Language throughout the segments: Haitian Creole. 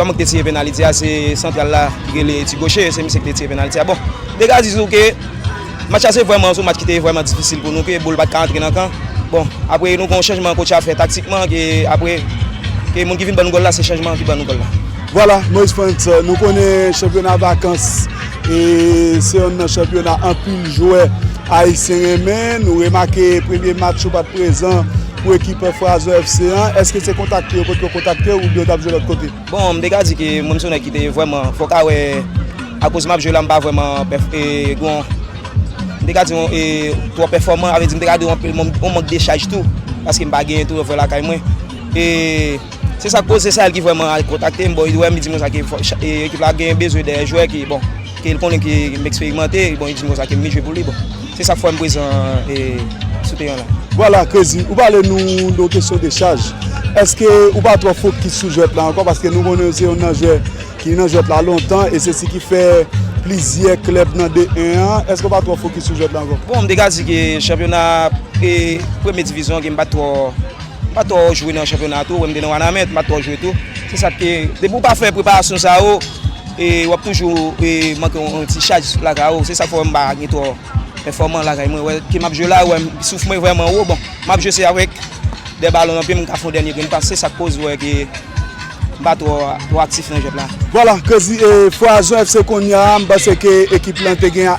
Sa mwen k te tire penaliti a se santral la ki rele ti goche se misye ki te tire penaliti a bon dega di nou ke match la se vreman sou match ki te vreman difisil pou nou ke boul pat ka antre nan kan bon apre nou gon chanjman kotch a fè taktikman ke apre ke moun ki vin ban nou gòl la se chanjman ki ban nou gòl la. Vwala Moise Frantz nou konnen chanpyona vakans e se yonn nan chanpyona anpil jwè ayisyen renmen nou remake premye match ou pat prezan Pou ekip Frazer FC an, eske se kontakte yo kote yo kontakte ou oubyen yo t ap jwe lòt kote? Bon, m te ka di ke mwen m se yon nèg ki te vrèman, fò w ka wè akoz m ap jwe la m pa vrèman gen, m te ka di twò pèfòman, avè di m te ka di yon mank dechaj tou paske m pa genyen tou yon frè lakay mwen e. Se sak koz se Sahel ki vrèman al kontakte m, bon li wèm li dim konsa ke ekip la gen bezwen dè jwè ke bon ke l konnen ke m eksperimante, bon li dim konsa ke m vle jwe pou li bon se sak fèm prezan sou teren la. Vwala Krezi ou pale nou de kesyon de chaj eske ou pa twò fokis sou jwèt la ankò paske nou konnen ou se youn nan jwè ki nan jwèt la lontan e se si ki fè plizyè klèb nan de en an eske ou pa twò fokis sou jwèt la ankò? Bon m te ka di ke chanpyona premye divizyon ke m pat twò. Mpa twò jwe nan chanpyona a tou, ou wè m te nan Wanament, mpa twò jwe tou. Se sa k te, depi w pa fè preparasyon sa yo, w ap toujou manke yon ti chaj lakay ou. Se sa k fè ou wè m pa gen twò pèfòman lakay mwen. Ou wè ke m ap jwe la, ou wè m souf mwen vrèman wo. Bon, m ap jwe se avèk 2 balon nan pye m, m ka fè yon dènye grenn pas. Se sa k koz ou wè ke m pa twò aktif nan jwèt la. Vwala, Krezi e Fwa Jan FC konnya a, m panse ke ekip lan te gen a.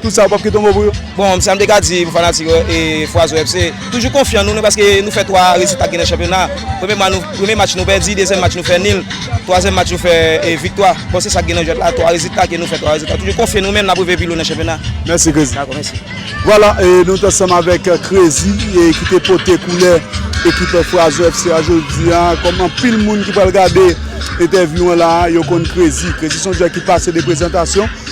Tout sa ou pap kite yon mo pou yo? Bon, sa m te ka di pou fanatik Fwazo Ep se toujou konfyan nou paske nou fè 3 rezitak gen nan chanpyona. Premye match nou pèdi, dezyèm match nou fè nil, twazyèm match nou fè viktwa. Bon se sa k gen nan jwèt la, 3 rezitak e nou fè 3 rezitak. Toujou konfye nou men nap rive pi lwen nan chanpyona. Mèsi Krezi. Dakò, mèsi. Vwala, nou t ansanm avèk Krezi ki te pote koulè ekip Fwazo FC a jodi a. Kòm anpil moun ki pral gade entèvyou an la a, yo konn Krezi. Krezi se yon jwè ki pase de prezantasyon.